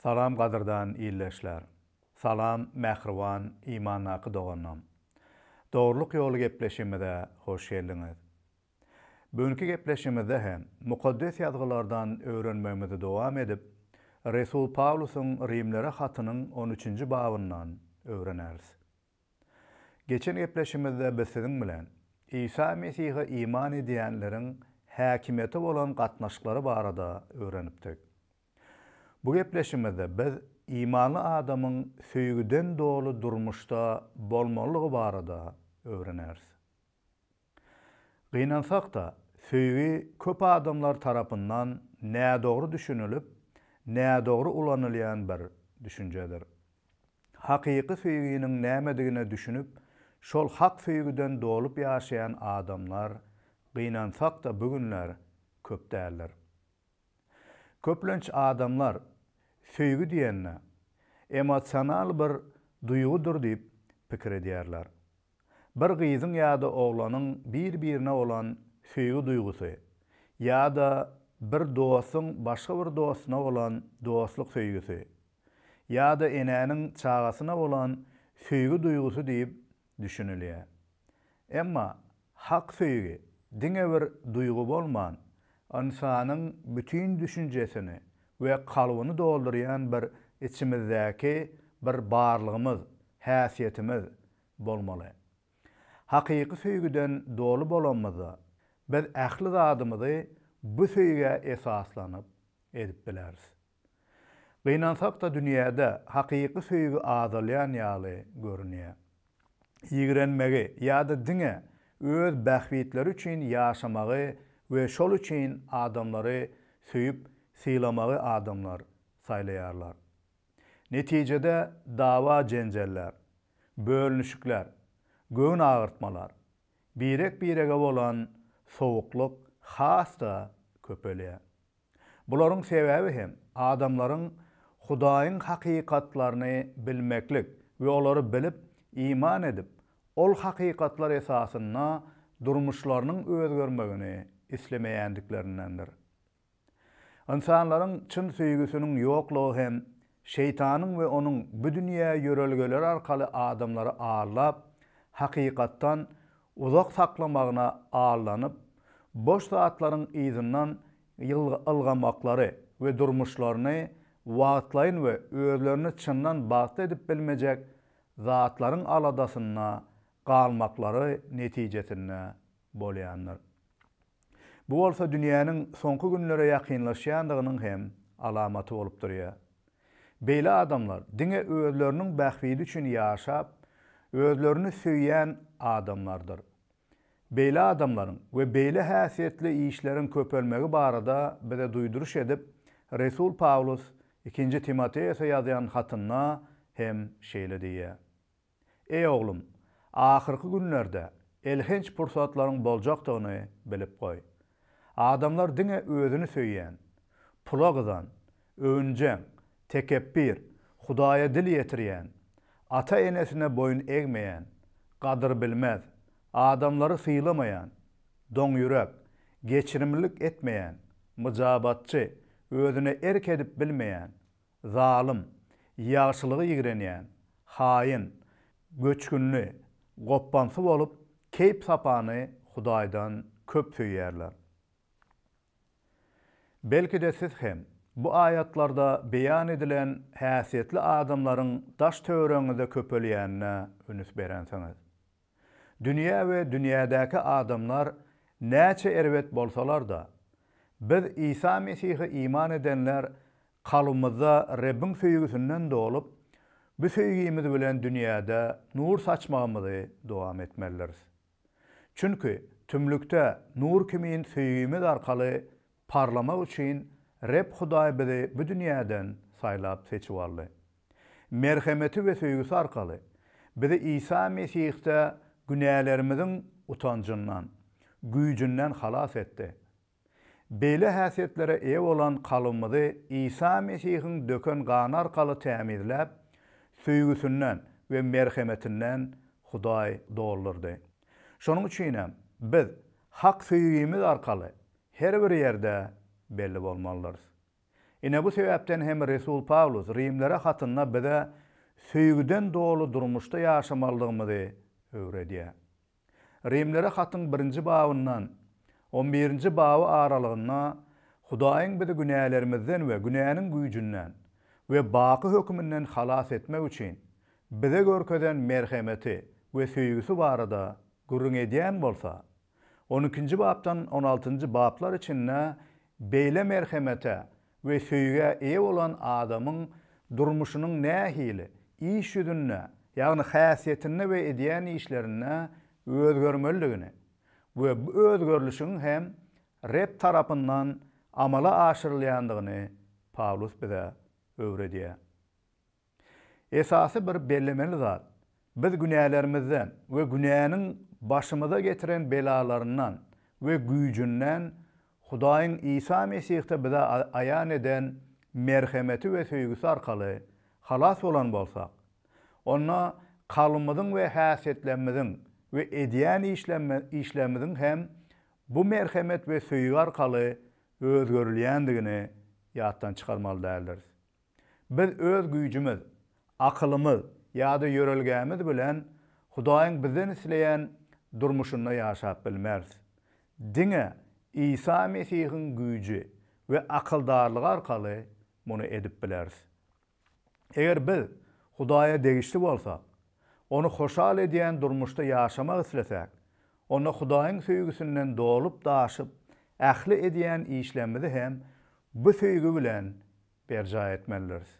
Salam gadyrdan ildeşler. Salam mähriban imandaky doganlarym. Dogrulyk ýoly gepleşigimize hoş geldiňiz. Bugünki gepleşigimizde hem Mukaddes Ýazgylardan öwrenmegimizi dowam edip, resul Pawlusyň Rimlere hatynyň on üçünji babyndan öwreneris. Geçen gepleşigimizde biz siziň bilen Isa Mesihe iman edýänleriň häkimiýete bolan gatnaşyklary barada öwrenipdik. Bu gepleşigimizde biz imanly adamyň söýgüden doly durmuşda bolmalydygy barada öwreneris. Gynansak-da, söýgi köp adamlar tarapyndan nädogry düşünilip, nädogry ulanylýan bir düşünjedir. Hakyky söýginiň nämedigine düşünip, şol hak söýgüden dolup ýaşaýan adamlar, gynansak-da, bu günler köp däldir. Köplenç adamlar söýgi diýende, emosional bir duýgudyr diýip pikir edýärler. Bir gyzyň ýa-da oglanyň bir-birine bolan söýgi duýgusy ýa-da bir dostuň başga bir dostuna bolan dostluk söýgüsi ýa-da enäniň çagasyna bolan söýgi duýgusy diýip düşünilýär. Emma hak söýgi diňe bir duýgy bolman, ynsanyň bütin düşünjesini we kalbyny doldurýan bir içimizdäki bir barlygymyz, häsiýetimiz, bolmaly. Hakyky söýgüden doly bolanymyzda, biz ähli zadymyzy bu söýgä esaslanyp edip bileris. Gynansak-da dünýäde hakyky söýgi azalýan ýaly görünýär. Ýigrenmegi ýa-da diňe öz bähbitleri üçin ýaşamagy we şol üçin adamlary söýüp sylamagy adamlar saýlaýarlar. Netijede dawa-jenjeller, bölünişikler, göwün agyrtmalar, birek-birege bolan sowuklyk has-da köpelýär. Bularyň sebäbi hem adamlaryň Hudaýyň hakykatlaryny bilmeklik we olary bilip, iman edip, ol hakykatlar esasynda durmuşlarynyň özgermegini islemeýändiklerindendir. Ynsanlaryň çyn söýgüsiniň ýoklugy hem Şeýtanyň we onuň bu dünýä ýörelgeleri arkaly adamlary aldap, hakykatdan uzak saklamagyna aldanyp, boş zatlaryň yzyndan ylgamaklary we durmuşlaryny wagtlaýyn we özlerini çyndan bagtly edip bilmejek zatlaryň aladasynda galmaklary netijesinde bolýandyr. Bu bolsa dünýäniň soňky günlere ýakynlaşýandygynyň hem alamaty bolup durýar. Beýle adamlar diňe özleriniň bähbidi üçin ýaşap, özlerini söýýän adamlardyr. Beýle adamlaryň we beýle häsiýetli işleriň köpelmegi barada bize duýduryş edip, resul Pawlus Ikinji Timoteosa ýazýan hatynda hem şeýle diýýär. Eý oglum, ahyrky günlerde elhenç pursatlaryň boljakdygyny bilip goý. Adamlar diňe özüni söýýän, pula gyzan, öwünjeň, tekepbir, Hudaýa dil ýetirýän, ata-enesine boýun egmeýän, gadyrbilmez, adamlary sylamaýan, doňýürek, geçirimlilik etmeýän, myjabatçy, özüne erk edip bilmeýän, zalym, ýagşylygy ýigrenýän, haýyn, göçgünli, gopbamsy bolup, keýp-sapany Hudaýdan köp söýýärler. Belki-de siz hem, bu aýatlarda beýan edilen häsiýetli adamlaryň daş-töweregiňizde köpelýänine ünüs berensiňiz. Dünýä we dünýädäki adamlar näçe erbet bolsalar-da, biz Isa Mesihe iman edenler kalbymyzda Rebbiň söýgüsinden dolup, bu söýgimiz bilen dünýäde nur saçmagymyzy dowam etmelidiris. Çünki tümlükde nur kimin söýgimiz arkaly Parlamak üçin Reb Hudaý bizi bu dünýäden saýlap seçip aldy. Merhemeti we söýgüsi arkaly, bizi Isa Mesihde günälerimiziň utanjyndan, güýjünden halas etdi. Beýle häsiýetlere eýe bolan kalbymyzy Isa Mesihiň döken gany arkaly tämizläp, söýgüsinden we merhemetinden Hudaý doldurdy. Şonuň üçinem, biz Hak söýgimiz arkaly her bir ýerde belli bolmalydyrys. Ine, bu sebäpden hem resul Pawlus Rimlere hatynda bize söýgüden doly durmuşda ýaşamalydygymyzy öwredýär. Rimlere hatyň birinji babyndan on birinji baby aralygynda Hudaýyň bizi günälerimizden we günäniň güýjünden we baky höküminden halas etmek üçin bize görkezen merhemeti we söýgüsi barada gürrüň edýän bolsa, On ikinji bapdan on altynjy baplar içinde beýle merhemete we söýgä eýe bolan adamyň durmuşynyň nähili, iş ýüzünde, ýagny häsiýetinde we edýän işlerinde özgermelidigini we bu özgerlişigiň hem Reb tarapyndan amala aşyrylýandygyny Pawlus bize öwredýär. Esasy bir bellemeli zat, biz günälerimizden we günäniň başymyza getiren belalaryndan we güýjünden Hudaýyň Isa Mesihde bize aýan eden merhemeti we söýgüsi arkaly halas bolan bolsak, onda kalbymyzyň we häsiýetlerimiziň we edýän işlerimiziň hem bu merhemet we söýgi arkaly özgerilýändigini ýatdan çykarmaly däldiris. Biz öz güýjümiz, akylymyz ýa-da ýörelgämiz bilen Hudaýyň bizden isleýän durmuşynda ýaşap bilmeris. Diňe Isa Mesihiň güýji we akyldarlygy arkaly muny edip bileris. Eger biz Hudaýa degişli bolsak, Ony hoşal edýän durmuşda ýaşamak islesäk, onda Hudaýyň söýgüsinden dolup-daşyp ähli edýän işlerimizi hem bu söýgi bilen berjaý etmelidiris.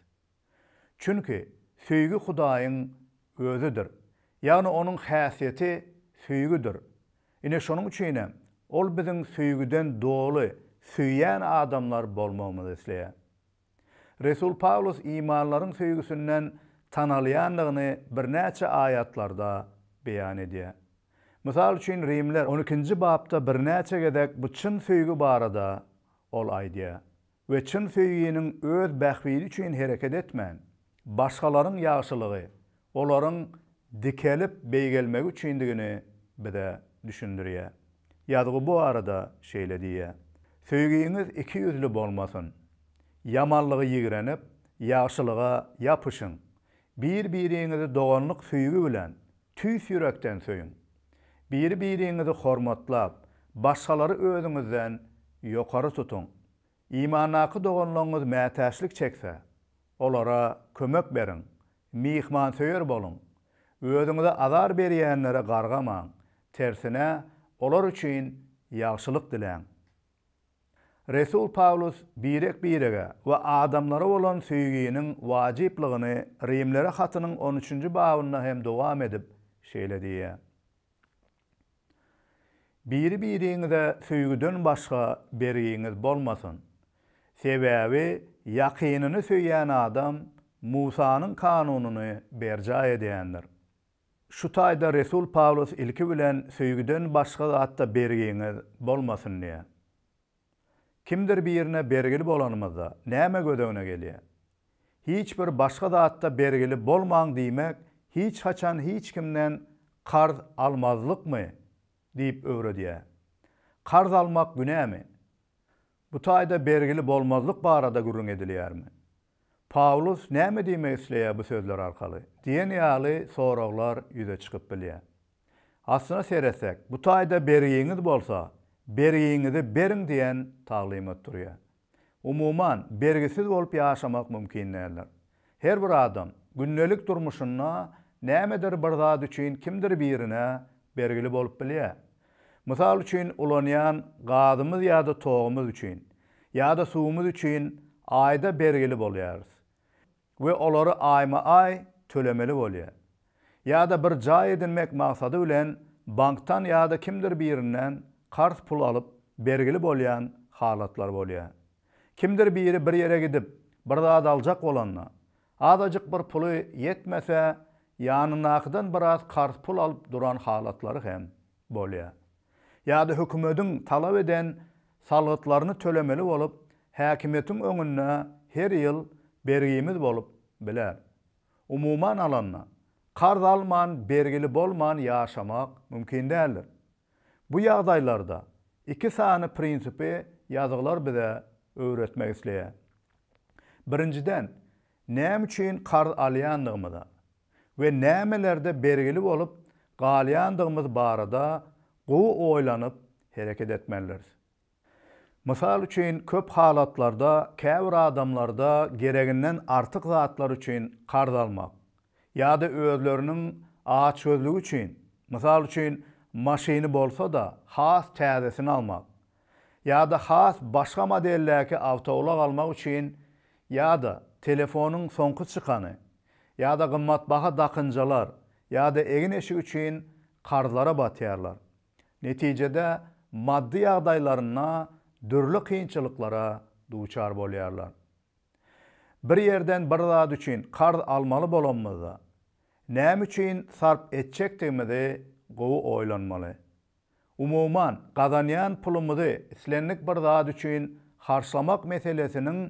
Çünki söýgi Hudaýyň Özüdir. Ýagny Onuň häsiýeti söýgüdir. Ine şonuň üçin hem Ol biziň söýgüden doly söýýän adamlar bolmagymyzy isleýär. Resul Pawlus imanlaryň söýgüsinden tanalýandygyny birnäçe aýatlarda beýan edýär. Mysal üçin Rimler on ikinji bapda birnäçe gezek bu çyn söýgi barada ol aýdýar. we çyn söýginiň öz bähbidi üçin hereket etmän, başgalaryň ýagşylygy olaryň dikelip beýgelmegi üçindigini bize düşündirýär. Ýazgy bu barada şeýle diýýär, Söýgiňiz iki ýüzli bolmasyn. Ýamanlygy ýigrenip, ýagşylyga ýapyşyň. Bir-biriňizi doganlyk söýgi bilen, tüýs ýürekden söýüň. Biri-biriňizi hormatlap, başgalary özüňizden ýokary tutuň. Imandaky doganlaryňyz mätäçlik çekse, olara kömek beriň. Myhmansöýer boluň. Özüňize azar berýänlere gargamaň, tersine, olar üçin ýagşylyk diläň. Resul Pawlus birek-birege we adamlara bolan söýginiň wajyplygyny Rimlere hatynyň on üçünji babynda hem dowam edip, şeýle diýýär, Biri-biriňize söýgüden başga bergiňiz bolmasyn. Sebäbi ýakynyny söýýän adam Musanyň kanunyny berjaý edýändir. Şu taýda resul Pawlus ilki bilen söýgüden başga zatda bergiňiz bolmasyn diýýär. Kimdir birine bergili bolanymyzda, näme göz öňüne gelýär? Hiç bir başga zatda bergili bolmaň diýmek hiç haçan hiç kimden karz almazlykmy? diýip öwredýär. Karz almak günämi? Bu taýda bergili bolmazlyk barada gürrüň edilýärmi? Pawlus näme diýmek isleýär bu sözler arkaly? diýen ýaly soraglar ýüze çykyp bilýär. Aslyna seretsek, bu taýda bergiňiz bolsa, bergiňizi beriň diýen taglymat durýar. Umuman, bergisiz bolup ýaşamak mümkin däldir. Her bir adam, gündelik durmuşynda nämedir bir zat üçin kimdir birine bergili bolup bilýär. Mysal üçin, ulanýan gazymyz ýa-da togumyz üçin, ýa-da suwumyz üçin aýda bergili bolýarys we olary aýma-aý tölemeli bolýar. Ýa-da bir jaý edinmek maksady bilen bankdan ýa-da kimdir birinden karz pul alyp bergili bolýan halatlar bolýar. Kimdir biri bir ýere gidip, bir zat aljak bolanda, Azajyk bir puly ýetmese, ýanyndakydan biraz karz pul alyp duran halatlary hem bolýar. Ýa-da hökümediň talap eden salgytlaryny tölemeli bolup, häkimiýetiň öňünde her ýyl bergimiz bolup biler. Umuman alanda, karz alman, bergili bolman ýaşamak mümkin däldir. Bu ýagdaýlarda iki sany prinsipi ýazgylar bize öwretmek isleýär. Birinjiden, näme üçin karz alýandygymyza we nämelerde bergili bolup galýandygymyz barada gowy oýlanyp hereket etmelidiris. Mysal üçin, köp halatlarda käbir adamlarda gereginden artyk zatlar üçin karz almak ýa-da özleriniň açgözlügi üçin, mysal üçin, maşyny bolsa-da has täzesini almak ýa-da has başga modeldäki awtoulag almak üçin ýa-da telefonyň soňky çykany ýa-da gymmatbaha dakynjalar ýa-da egin-eşik üçin karzlara batýarlar. Netijede maddy ýagdaýlarynda dürli kynçylyklara duçar bolýarlar. Bir ýerden bir zat üçin karz almaly bolanymyzda, näme üçin sarp etjekdigimizi gowy oýlanmaly. Umuman, gazanýan pulumyzy islendik bir zat üçin harçlamak meselesiniň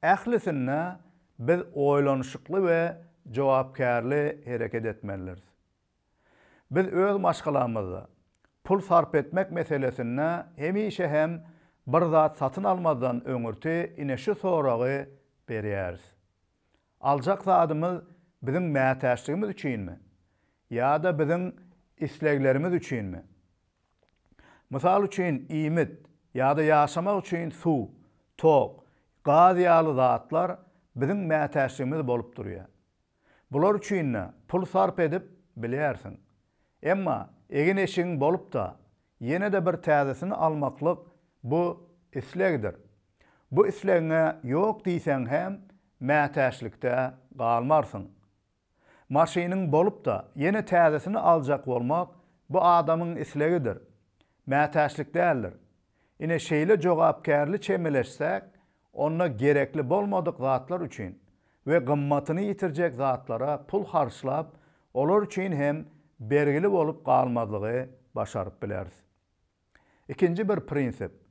ählisinde biz oýlanyşykly we jogapkärli hereket etmelidiris. Biz öz maşgalamyzda pul sarp etmek meselesinde hemişe hem bir zat satyn almazdan öňürti ine şu soragy berýäris. Aljak zadymyz biziň mätäçligimiz üçinmi? Ýa-da biziň isleglerimiz üçinmi? Mysal üçin, iýmit ýa-da ýaşamak üçin suw, tok, gaz ýaly zatlar biziň mätäçligimiz bolup durýar. Bular üçin-de pul sarp edip bilýärsiň. Emma egin-eşigiň bolup-da, Ýene-de bir täzesini almaklyk bu islegdir. Bu islegiňe ýok diýseň hem mätäçlikde galmarsyň. Maşynyň bolup-da, ýene täzesini aljak bolmak bu adamyň islegidir. Mätäçlik däldir. Ine şeýle jogapkärli çemeleşsek, Onda gerekli bolmadyk zatlar üçin we gymmatyny ýitirjek zatlara pul harçlap, olar üçin hem bergili bolup galmazlygy başaryp bileris. Ikinji bir prinsip,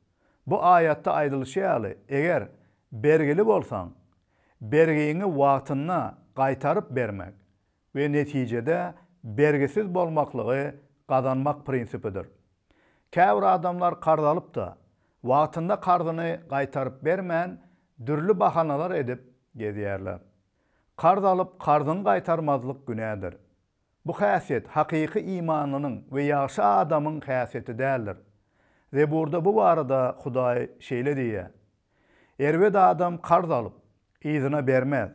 Bu aýatda aýdylyşy ýaly, eger bergili bolsaň, bergiňi wagtynda gaýtaryp bermek, we netijede bergisiz bolmaklygy gazanmak prinsipidir. Käbir adamlar karz alyp-da, wagtynda karzyny gaýtaryp bermän, dürli bahanalar edip gezýärler. Karz alyp, karzyňy gaýtarmazlyk günädir. Bu häsiýet hakyky imanlynyň we ýagşy adamyň häsiýeti däldir. Zeburda bu barada Hudaý şeýle diýýär. Erbet adam karz alyp, yzyna bermez,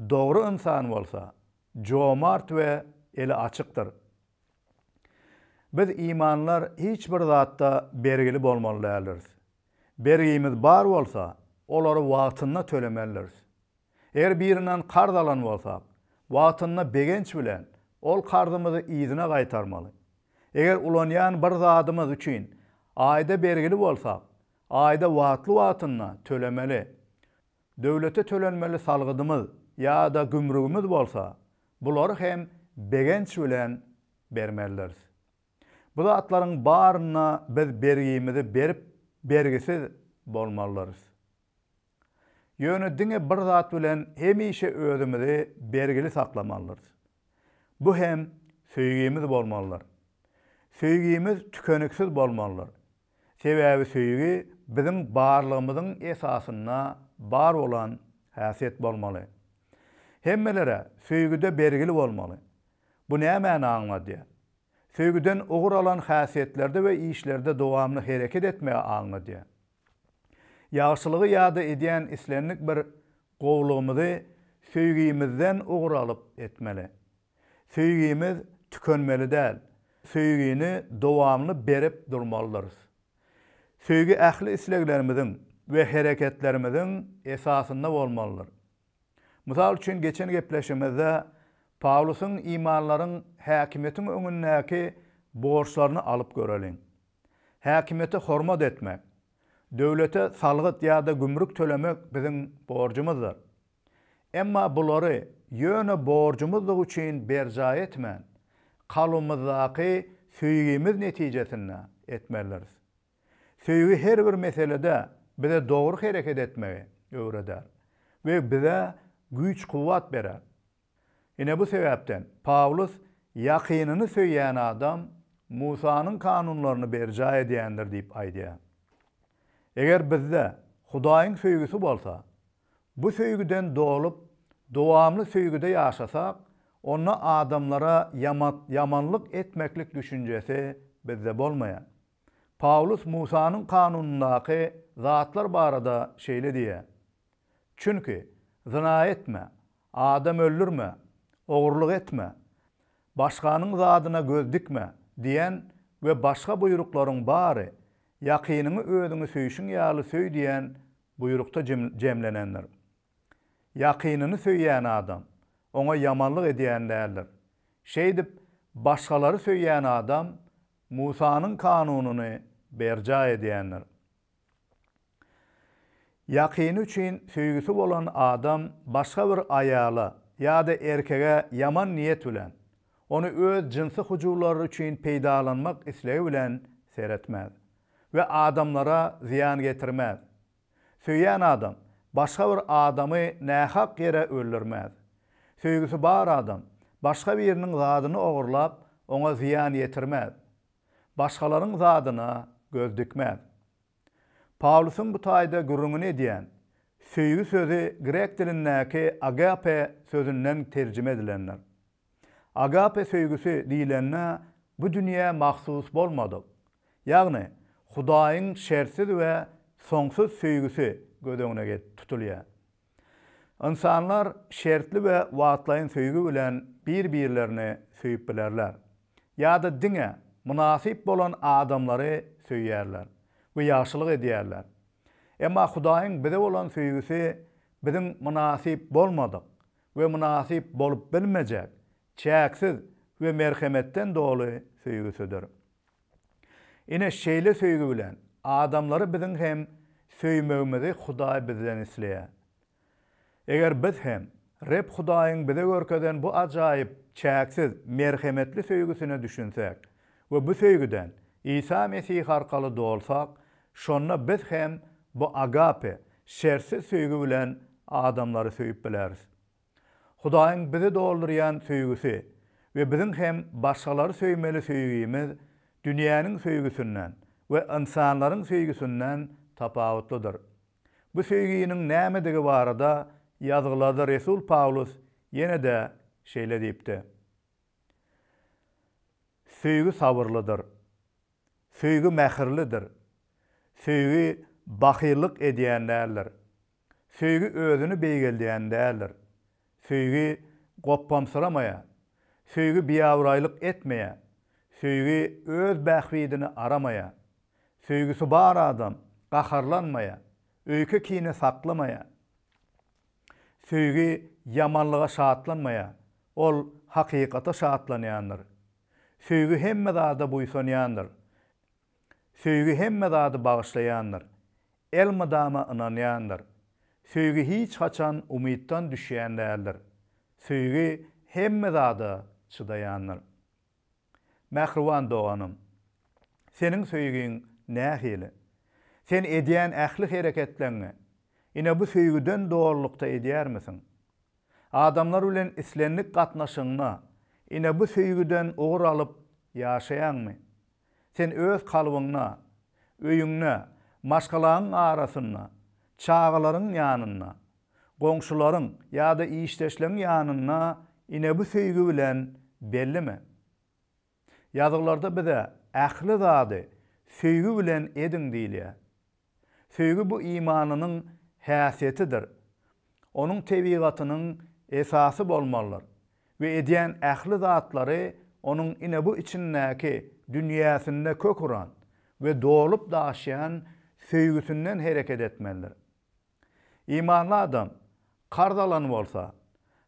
dogry ynsan bolsa, jomart we eli açykdyr. Biz imanlar hiç bir zatda bergili bolmaly däldiris. Bergimiz bar bolsa, olary wagtynda tölemelidiris. Eger birinden karz alan bolsak, wagtynda begenç bilen ol karzymyzy yzyna gaýtarmaly. Eger ulanýan bir zadymyz üçin aýda bergili bolsak, Aýda wagtly-wagtynda tölemeli, döwlete tölenmeli salgydymyz ýa-da gümrügimiz bolsa, bulary hem begenç bilen bermelidiris. Bu zatlaryň baryna biz bergimizi berip, bergisiz bolmalydyrys. Ýöne diňe bir zat bilen hemişe özümizi bergili saklamalydyrys. Bu hem söýgimiz bolmalydyr. Söýgimiz tükeniksiz bolmalydyr. Sebäbi söýgi biziň barlygymyzyň esasynda bar bolan häsiýet bolmaly. Hemmelere söýgüde bergili bolmaly. Bu nämäni aňladýar? Söýgüden ugur alan häsiýetlerde we işlerde dowamly hereket etmegi aňladýar. Ýagşylygy ýa-da edýän islendik bir gowulygymyzy söýgimizden ugur alyp etmeli. Söýgimiz tükenmeli däl. Söýgini dowamly berip durmalydyrys. Söýgi ähli isleglerimiziň we hereketlerimiziň esasynda bolmalydyr. Mysal üçin, geçen gepleşigimizde Pawlusyň imanlaryň häkimiýetiň öňündäki borçlaryny alyp göreliň. Häkimiýete hormat etmek, döwlete salgyt ýa-da gümrük tölemek biziň borjumyzdyr. Emma bulary ýöne borjumyzdygy üçin berjaý etmän, kalbymyzdaky söýgimiz netijesinde etmelidiris. Söýgi her bir meselede bize dogry hereket etmegi öwreder we bize güýç-kuwwat berer. Ine bu sebäpden Pawlus Ýakynyny söýýän adam Musanyň kanunlaryny berjaý edýändir diýip aýdýar. Eger bizde Hudaýyň söýgüsi bolsa, bu söýgüden dolup, dowamly söýgüde ýaşasak, onda adamlara ýamanlyk etmeklik düşünjesi bizde bolmaýar. Pawlus Musanyň kanunyndaky zatlar barada şeýle diýýär, Çünki, zyna etme, adam öldürme, ogurlyk etme, başganyň zadyna göz dikme diýen we başga buýruklaryň bary Ýakynyňy özüňi söýşüň ýaly söý diýen buýrukda jemlenendir. Ýakynyny söýýän adam oňa ýamanlyk edýän däldir. Şeýdip, başgalary söýýän adam Musanyň kanunyny berjaý edýändir. Ýakyny üçin söýgüsi bolan adam başga bir aýala ýa-da erkege ýaman niýet bilen, ony öz jynsy hyjuwlary üçin peýdalanmak islegi bilen seretmez we adamlara zyýan getirmez. Söýýän adam başga bir adamy nähak ýere öldürmez. Söýgüsi bar adam başga biriniň zadyny ogurlap, oňa zyýan ýetirmez. Başgalaryň zadyna göz dikmez. Pawlusyň bu taýda gürrüňini edýän söýgi sözi grek dilindäki agape sözünden terjime edilendir. Agape söýgüsi diýlende bu dünýä mahsus bolmadyk, ýagny Hudaýyň şertsiz we soňsuz söýgüsi göz öňüne getirip tutulýar. Ynsanlar şertli we wagtlaýyn söýgi bilen bir-birlerini söýüp bilerler ýa-da diňe mynasyp bolan adamlary söýýärler we ýagşylyk edýärler. Emma Hudaýyň bize bolan söýgüsi biziň mynasyp bolmadyk we mynasyp bolup bilmejek çäksiz we merhemetden doly söýgüsidir. Ine, şeýle söýgi bilen adamlary biziň hem söýmegimizi Hudaý bizden isleýär. Eger biz hem Reb Hudaýyň bize görkezen bu ajaýyp, çäksiz, merhemetli söýgüsine düşünsek, we bu söýgüden Isa Mesih arkaly dolsak, şonda biz hem bu agape, şertsiz söýgi bilen adamlary söýüp bileris. Hudaýyň bizi doldurýan söýgüsi we biziň hem başgalary söýmeli söýgimiz dünýäniň söýgüsinden we ynsanlaryň söýgüsinden tapawutlydyr. Bu söýginiň nämedigi barada Ýazgylarda resul Pawlus ýene-de şeýle diýipdi, Söýgi sabyrlydyr. Söýgi mähirlidir. Söýgi bahyllyk edýän däldir. Söýgi özüni beýgeldýän däldir. Söýgi gopbamsyramaýar. Söýgi biabraýlyk etmeýär. Söýgi öz bähbidini aramaýar. Söýgüsi bar adam gaharlanmaýar, öýke-kine saklamaýar. Söýgi ýamanlyga şatlanmaýar, ol hakykata şatlanýandyr. Söýgi hemme zada buýsanýandyr. Söýgi hemme zady bagyşlaýandyr. Elmydama ynanýandyr. Söýgi hiç haçan umytdan düşýän däldir. Söýgi hemme zada çydaýandyr. Mähriban doganym, seniň söýgiň nähili? Sen edýän ähli hereketleňňi ine bu söýgüden dolulykda edýärmisiň? Adamlar bilen islendik gatnaşygyňda ine bu söýgüden ugur alyp ýaşaýaňmy? Sen öz kalbyňda, öýüňde, maşgalaňyň arasynda, çagalaryň ýanynda, goňşularyň ýa-da işdeşleň ýanynda ine bu söýgi bilen bellime. Ýazgylarda bize ähli zady söýgi bilen ediň diýilýär. Söýgi bu imanynyň häsiýetidir, onuň tebigatynyň esasy bolmalydyr we edýän ähli zatlary onuň ine bu içindäki dünýäsinde kök uran we dolup-daşýan söýgüsinden hereket etmelidir. Imanly adam karz alan bolsa,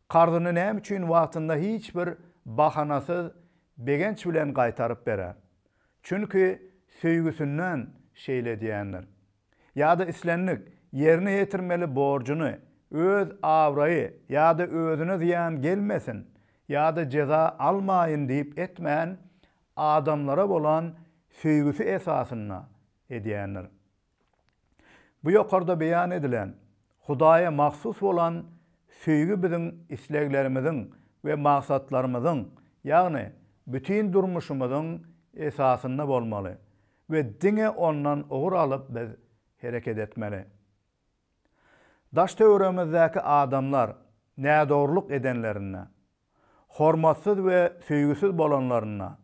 karzyny näme üçin wagtynda hiç bir bahanasyz begenç bilen gaýtaryp berer? Çünki söýgüsinden şeýle edýändir. Ýa-da islendik, ýerine ýetirmeli borjuny, öz abraýy ýa-da özüne zyýan gelmesin ýa-da jeza almaýyn diýip etmän, adamlara bolan söýgüsi esasynda edýändir. Bu ýokarda beýan edilen Hudaýa mahsus bolan söýgi biziň isleglerimiziň we maksatlarymyzyň, ýagny bütin durmuşymyzyň esasynda bolmaly we diňe ondan ugur alyp biz hereket etmeli. Daş-töweregimizdäki adamlar nädogrulyk edenlerinde, hormatsyz we söýgüsiz bolanlarynda,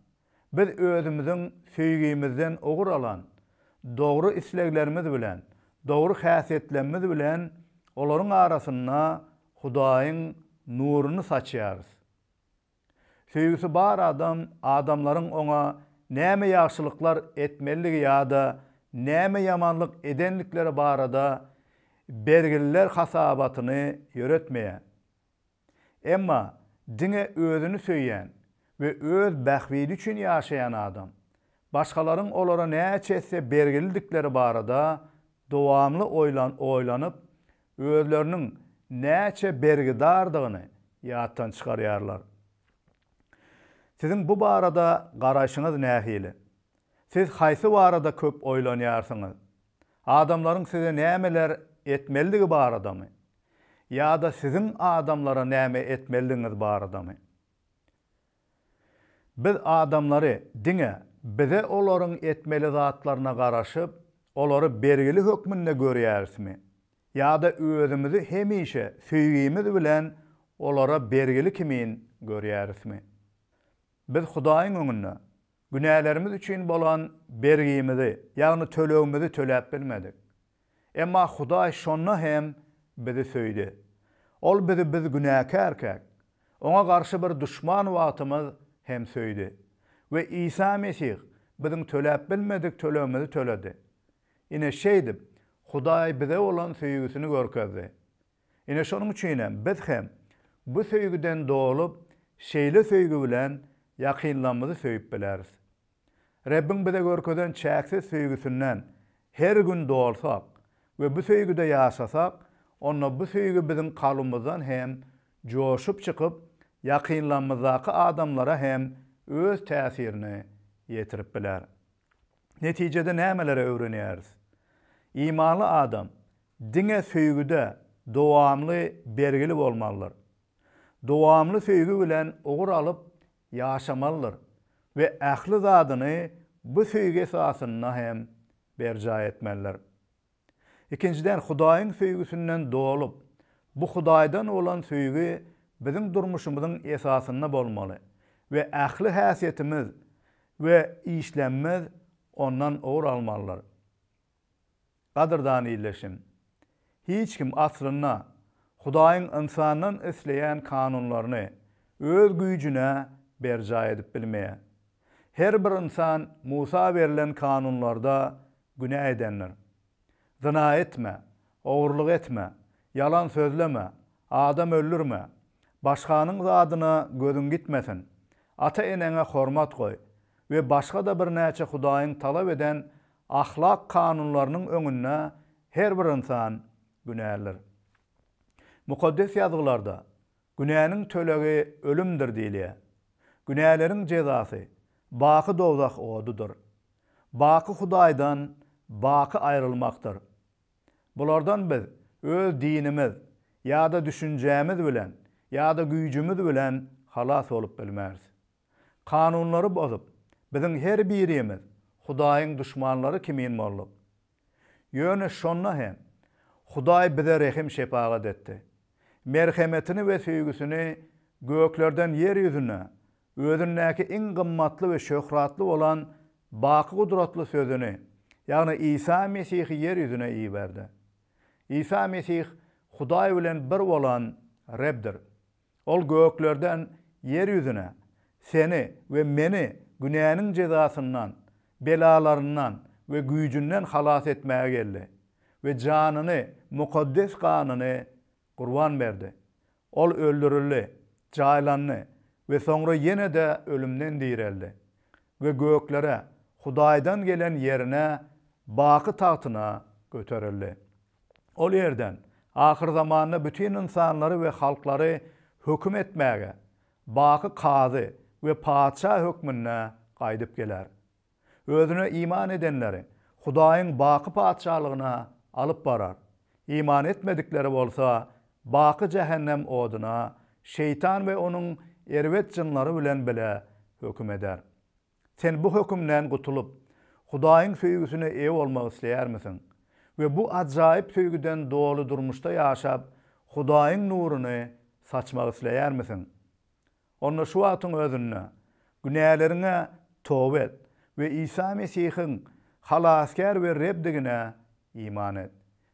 biz özümiziň söýgimizden ugur alan dogry isleglerimiz bilen, dogry häsiýetlemimiz bilen olaryň arasynda Hudaýyň nuruny saçýarys. Söýgüsi bar adam adamlaryň oňa näme ýagşylyklar etmelidigi ýa-da näme ýamanlyk edendikleri barada bergililer hasabatyny ýöretmeýär. Emma diňe özüni söýýän we öz bähbidi üçin ýaşaýan adam, başgalaryň olara näçe etse bergilidikleri barada dowamly oýlanyp, özleriniň näçe bergidardygyny ýatdan çykarýarlar. Siziň bu barada garaýşyňyz nähili? Siz haýsy barada köp oýlanýarsyňyz? Adamlaryň size nämeler etmelidigi baradamy? Ýa-da siziň adamlara näme etmelidigiňiz baradamy? Biz adamlary diňe bize olaryň etmeli zatlaryna garaşyp, olary bergili hökmünde görýärismi? Ýa-da özümizi hemişe söýgimiz bilen olara bergili kimin görýärismi? Biz Hudaýyň öňünde Günälerimiz üçin bolan bergimizi, ýagny tölegimizi töläp bilmedik. Emma Hudaý şonda hem bizi söýdi. Ol bizi biz günäkärkäk, Oňa garşy bir duşman wagtymyz hem söýdi. We Isa Mesih biziň töläp bilmedik tölegimizi töledi. Ine, şeýdip, Hudaý bize bolan söýgüsini görkezdi. Ine şonuň üçinem biz hem bu söýgüden dolup, şeýle söýgi bilen ýakynlarymyzy söýüp bileris. Rebbiň bize görkezen çäksiz söýgüsinden her gün dolsak we bu söýgüde ýaşasak, onda bu söýgi biziň kalbymyzdan hem joşup çykyp, ýakynlarymyzdaky adamlara hem öz täsirini ýetirip biler. Netijede nämeleri öwrenýäris? Imanly adam Diňe söýgüde dowamly bergili bolmalydyr. Dowamly söýgi bilen ugur alyp ýaşamalydyr we ähli zadyny bu söýgi esasynda hem berjaý etmelidir. Ikinjiden, Hudaýyň söýgüsinden dolup, bu Hudaýdan bolan söýgi biziň durmuşymyzyň esasynda bolmaly we ähli häsiýetimiz we işlemimiz ondan ugur almalydyr. Gadyrdan ildeşim, hiç kim aslynda Hudaýyň ynsandan isleýän kanunlaryny öz güýjüne berjaý edip bilmeýär. Her bir ynsan Musa berlen kanunlarda günä edendir. Zyna etme, ogurlyk etme, ýalan sözleme, adam öldürme, başganyň zadyna gözüň gitmesin, ata-eneňe hormat goý we başga-da birnäçe Hudaýyň talap eden Ahlak kanunlarynyň öňünde her bir ynsan günälidir. Mukaddes Ýazgylarda, Günäniň tölegi ölümdir diýilýär. Günäleriň jezasy baky dowzah odudyr. Baky Hudaýdan baky aýrylmakdyr. Bulardan biz öz dinimiz ýa-da düşünjämiz bilen ýa-da güýjümiz bilen halas bolup bilmeris. Kanunlary bozup, biziň her birimiz Hudaýyň duşmanlary kimin bolduk. Ýöne şonda hem Hudaý bize rehim-şepagat etdi. Merhemetini we söýgüsini göklerden ýer ýüzüne Özündäki iň gymmatly we şöhratly bolan baky gudratly Sözüni, ýagny Isa Mesihi ýer ýüzüne iberdi. Isa Mesih Hudaý bilen bir bolan Rebdir. Ol göklerden ýer ýüzüne seni we meni günäniň jezasyndan, belalaryndan we güýjünden halas etmäge geldi we janyny, mukaddes ganyny gurban berdi. Ol öldürildi, jaýlandy we soňra ýene-de ölümden direldi we göklere, Hudaýdan gelen ýerine, baky tagtyna göterildi. Ol ýerden ahyrzamanda bütin ynsanlary we halklary höküm etmäge, baky kazy we patyşa hökmünde gaýdyp geler. Özüne iman edenleri Hudaýyň baky Patyşalygyna alyp barar, iman etmedikleri bolsa baky jähennem oduna Şeýtan we onuň erbet jynlary bilen bile höküm eder. Sen bu hökümden gutulyp, Hudaýyň söýgüsine eýe bolmak isleýärmisiň we bu ajaýyp söýgüden doly durmuşda ýaşap, Hudaýyň nuruny saçmak isleýärmisiň? Onda şu wagtyň özünde günäleriňe toba et we Isa Mesihiň Halasgär we Rebdigine iman et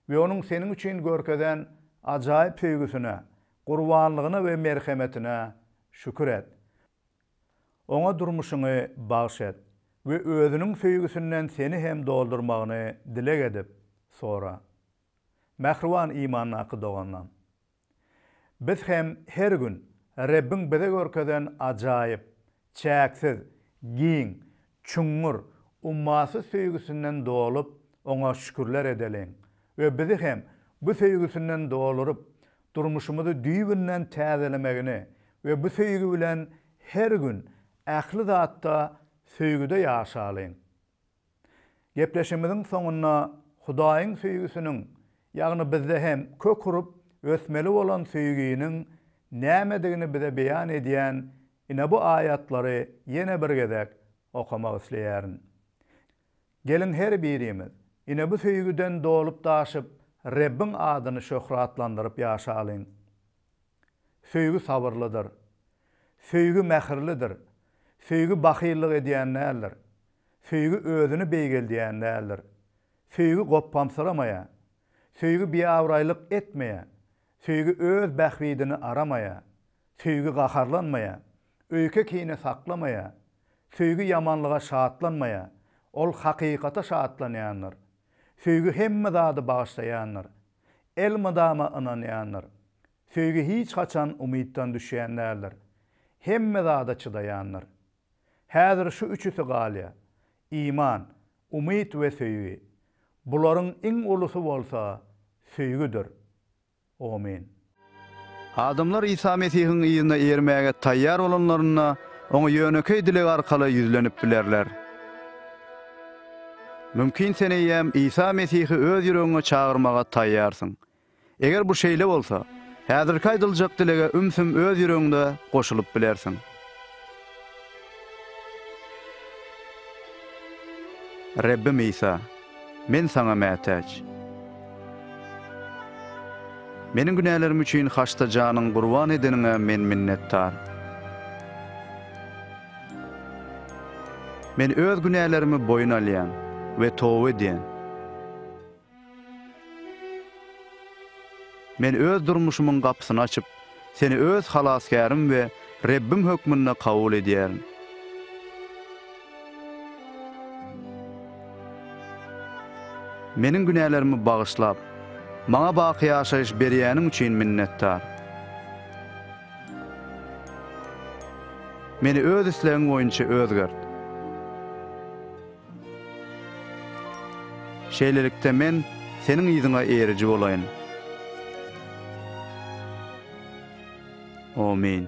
we Onuň seniň üçin görkezen ajaýyp söýgüsine, gurbanlygyna we merhemetine şükür et. Oňa durmuşyňy bagyş et we Özüniň söýgüsinden seni hem doldurmagyny dileg edip, sora. Mähriban imandaky doganlaň! Biz hem her gün Rebbiň bize görkezen ajaýyp, çäksiz, giň, Çuňňur, ummasyz söýgüsinden dolup, Oňa şükürler edeliň we bizi hem bu söýgüsinden doluryp, durmuşymyzy düýbünden täzelemegini we bu söýgi bilen her gün ähli zatda söýgüde ýaşalyň. Gepleşigimiziň soňunda Hudaýyň söýgüsiniň, ýagny bizde hem kök urup, ösmeli bolan söýginiň nämedigini bize beýan edýän Ine bu aýatlary ýene bir gezek okamak isleýärin. Geliň her birimiz, ine bu söýgüden dolup-daşyp Rebbiň adyny şöhratlandyryp ýaşalyň. Söýgi sabyrlydyr. Söýgi mähirlidir. Söýgi bahyllyk edýän däldir. Söýgi özüni beýgeldýän däldir. Söýgi gopbamsyramaýar. Söýgi biabraýlyk etmeýär. Söýgi öz bähbidini aramaýar. Söýgi gaharlanmaýar. Öýke-kine saklamaýar. Söýgi ýamanlyga şatlanmaýar. Ol hakykata şatlanýandyr. Söýgi hemme zady bagyşlaýandyr. Elmydama ynanýandyr. Söýgi hiç haçan umytdan düşýän däldir. Hemme zada çydaýandyr. Häzir şu üçüsi galýar, iman, umyt we söýgi. Bularyň iň ulusy bolsa söýgüdir. Omyn. Adamlar Isa Mesihiň yzyna ermäge taýýar bolanlarynda, Oňa ýönekeý dileg arkaly ýüzlenip bilerler. Mümkin sen eýýäm Isa Mesihi öz ýüregiňe çagyrmaga taýýarsyň. Eger bu şeýle bolsa, häzirki aýdyljak dilege ümsüm öz ýüregiňde goşulyp bilersiň. Rebbim Isa, men Saňa mätäç. Meniň günälerim üçin haçda janyň gurban edeniňe men minnetdar. Men öz günälerimi boýun alýan we toba edýän. Men öz durmuşymyň gapysyny açyp, Seni öz Halasgärim we Rebbim hökmünde kabul edýärin. Meniň günälerimi bagyşlap, maňa baky ýaşaýyş berýäniň üçin minnetdar. Meni öz islegiň boýunça özgert. Şeýlelikde, men Seniň yzyňa eriji bolaýyn. Amin.